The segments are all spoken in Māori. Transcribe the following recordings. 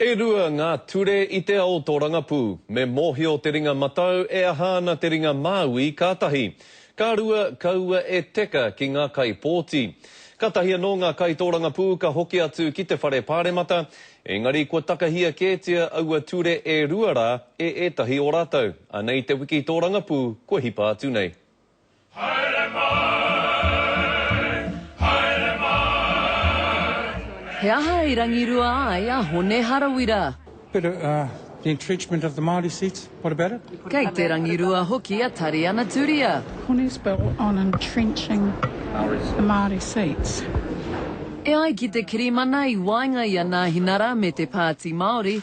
E rua ngā ture i te ao tōrangapū. Me mōhio te ringa matau e aha ana te ringa māui ka tahi. Ka rua, kaua e teka ki ngā kaipōti. Ka tahi anō ngā kaitōrangapū ka hoki atu ki te whare pāremata, engari kua takahia kētia aua ture e rua rā e ētahi o rātou. Anei te wiki tōrangapū kua hipa atu nei. Haere mai, haere mai. He aha i rangirua ai a Hone Harawira? But uh, the entrenchment of the Māori seats, what about it? Kei te rangirua hoki a Tari Anaturia. Hone's bill on entrenching the Māori seats. E ai ki te kirimana i waenga i a Nāhinara me te Pāti Māori,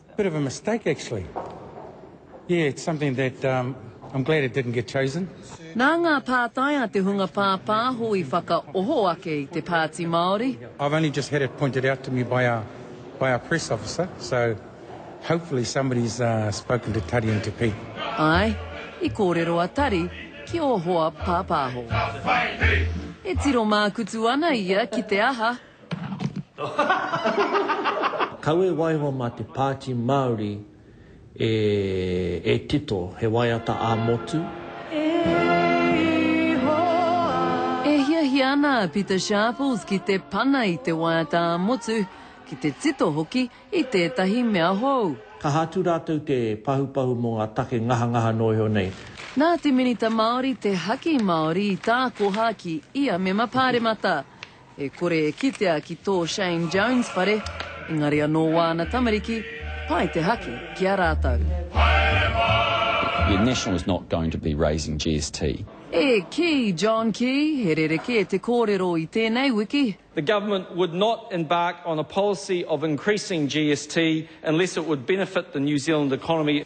Bit of a mistake actually. Yeah, it's something that um I'm glad it didn't get chosen. Nā ngā pātai a te hunga pāpāho i whakaoho ake i te Pāti Māori. I've only just had it pointed out to me by our by our press officer, so hopefully somebody's spoken to Tari and to Pete. Āe, i kōrero a Tari ki ō hoa pāpāho. He tiro mākutu ana ia ki te aha Kawe waiho mā te Pāti Māori e tito, he waiata ā-motu. E Ihoa! E hiahia ana a Pita Sharples ki te pana i te waiata ā-motu, ki te tito hoki i tētahi mea hou. Kaha atu rātou te pahupahu mō ngā take ngahangaha nō iho nei. Nā te Minita Māori te haki Māori i tākoha ki ia mema pāremata. E kore e kitea ki tō Shane Jones whare, engari anō wāna tamariki, pai te haki ki a rātou. Haere mai! National is not going to be raising GST. E kī, John Key, he rerekē te kōrero i tēnei wiki. The government would not embark on a policy of increasing GST unless it would benefit the New Zealand economy.